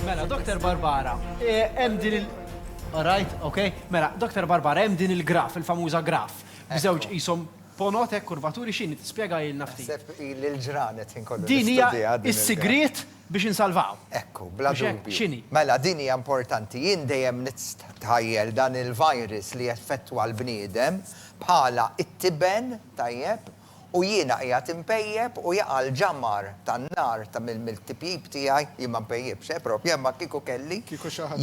Mela, Dr. Barbara, eh, hemm din il- Alright, ok. Mela, Dr. Barbara, hemm din il-graf, il-famuża graf. Bżewġ jisom ponot hekk kurvaturi x'in tispjega il nafti. Sepp il-ġranet inkollu. Din hija is-sigriet biex insalvaw. Ekku, bla dubju. Mela, din hija importanti. Jien dejjem nittajjel dan il-virus li effettwa l-bniedem bħala it-tiben tajjeb U jiena qiegħed inpejjep u jaqa' l-ġamgħar tan-nar ta' mill-tipjip tiegħi, jien ma npejjipx, eh, proprju, imma kieku kelli,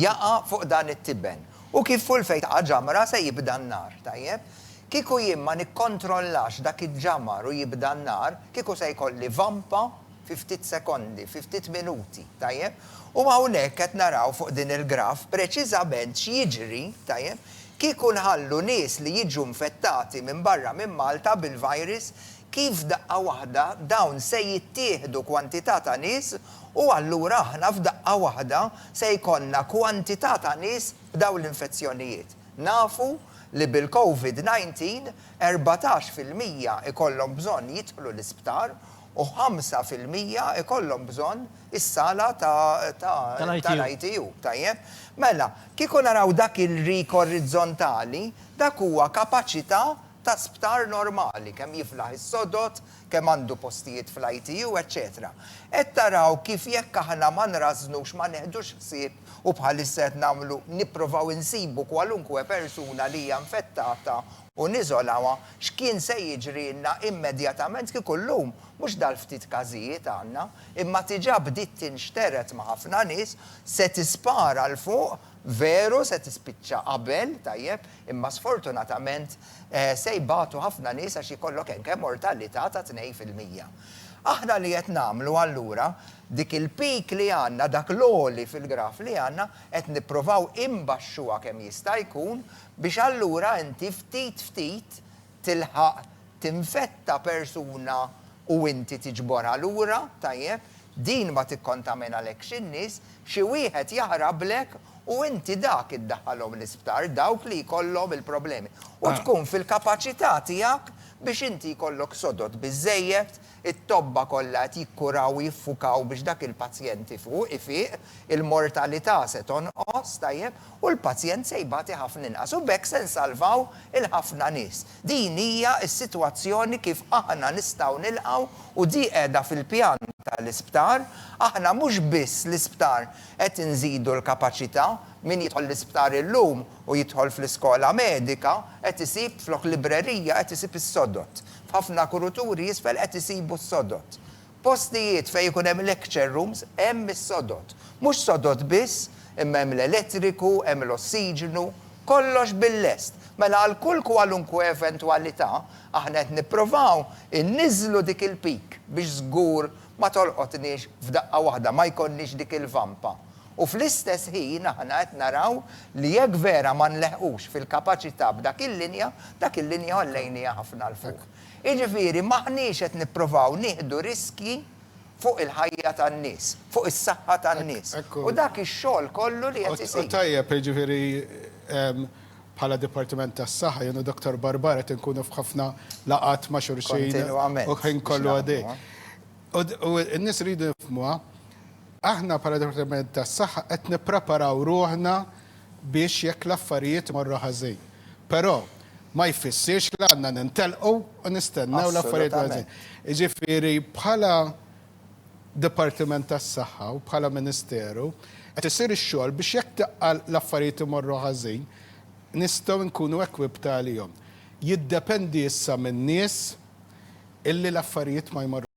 jaqa' fuq dan it-tiben. U kif full fejn taqa' ġamra se jibda n-nar, tajjeb? Kieku jien ma nikkontrollax dak iġ-ġamgħar u jibda n-nar, kieku se jkolli vampa fi ftit sekondi, fi ftit minuti, tajjeb? U hawnhekk qed naraw fuq din il-graph preċiżament x'jiġri, tajjeb, kieku nħallu nies li jiġu infettati minn barra minn Malta bil-virus, kif f'daqqa waħda dawn se jittieħdu kwantità ta' nies u allura aħna f'daqqa waħda se jkollna kwantità ta' nies b'dawn l-infezzjonijiet. Nafu li bil-Covid 19 erbatax fil-mija jkollhom bżonn jidħlu l-isptar u ħamsa fil-mija ikollhom bżonn is-sala tal-ITU. Tajjeb? Mela, kieku naraw dak il-rik orizzontali, dak huwa kapaċità ta' sptar normali, kemm jiflaħ is-sodod, kemm għandu postijiet fl-ITU, eċċetera. Qed taraw kif jekk aħna ma nrażżnux, ma neħdux ħsieb, u bħalissa qed nagħmlu, nipprovaw insibu kwalunkwe persuna li hija infettata u niżolawha x'kien se jiġrilna immedjatament kieku llum mhux dal-ftit każijiet għandna, imma diġà bdiet tinxtered ma' ħafna nies, se tispara 'l fuq, veru se tispiċċa qabel, tajjeb, imma sfortunatament se jbatu ħafna nies għax jkollok anke mortalità ta' tnejn fil-mija. Aħna li qed nagħmlu allura, dik il-peak li għandna, dak l-għoli fil-graf li għandna, qed nippruvaw inbaxxuha kemm jista' jkun, biex allura inti ftit ftit tilħaq tinfetta persuna u inti tiġborha lura, tajjeb, din ma tikkontaminalekx in-nies, xi wieħed jaħrablek u inti dak iddaħħalhom l-isptar, dawk li jkollhom il-problemi. U tkun fil-kapaċità tiegħek biex inti jkollok sodod biżżejjed It-tobba kollha qed jikkuraw u jiffukaw biex dak il-pazjent ifuq, ifiq, il-mortalità se tonqos, tajjeb, u l-pazjent se jbati ħafna inqas. U b'hekk se nsalvaw il-ħafna nies. Din hija s-sitwazzjoni kif aħna nistgħu nilqgħu u di qiegħda fil-pjan tal-isptar. Aħna mhux biss l-isptar qed inżidu l-kapaċità, min jidħol l-isptar illum u jidħol fl-iskola medika qed isib flok librerija qed isib is-sodod F'ħafna kuruturi isfel qed isibu s-sodod. Postijiet fejn ikun hemm lecture rooms hemm is-sodod. Mhux sodod biss, imma hemm l-elettriku, hemm l-ossiġnu, kollox bil-lest. Mela għal kull kwalunkwe eventwalità, aħna qed nipprovaw inniżżlu dik il-peak biex żgur ma tolqotniex f'daqqa waħda, ma jkollniex dik il-vampa. U fl-istess ħin aħna qed naraw li jekk vera ma nleħqux fil-kapaċità b'dak il-linja, dak il-linja għollejniha ħafna 'l fuq. Jiġifieri m'aħniex qed nipprovaw nieħdu riskji fuq il-ħajja tan-nies, fuq is-saħħa tan-nies. U dak ix-xogħol kollu li qed isir. U tajjeb, jiġifieri bħala Dipartiment tas-Saħħa, jien u Dottor Barbara qed inkunu f'ħafna laqgħat ma' xulxin u l-ħin kollu għaddej. U n-nies iridu jifhmuha. Aħna bħala Dipartiment tas-Saħħa qed nippreparaw ruħna biex jekk l-affarijiet imorru ħażin. Però ma jfissirx li għandna nintelqu u nistennew l-affarijiet imorru ħażin. Jiġifieri bħala Dipartiment tas-Saħħa u bħala Ministeru qed isir ix-xogħol biex jekk daqqa l-affarijiet imorru ħażin nistgħu nkunu equipped għalihom. Jiddependi issa min-nies illi l-affarijiet ma jmorrux.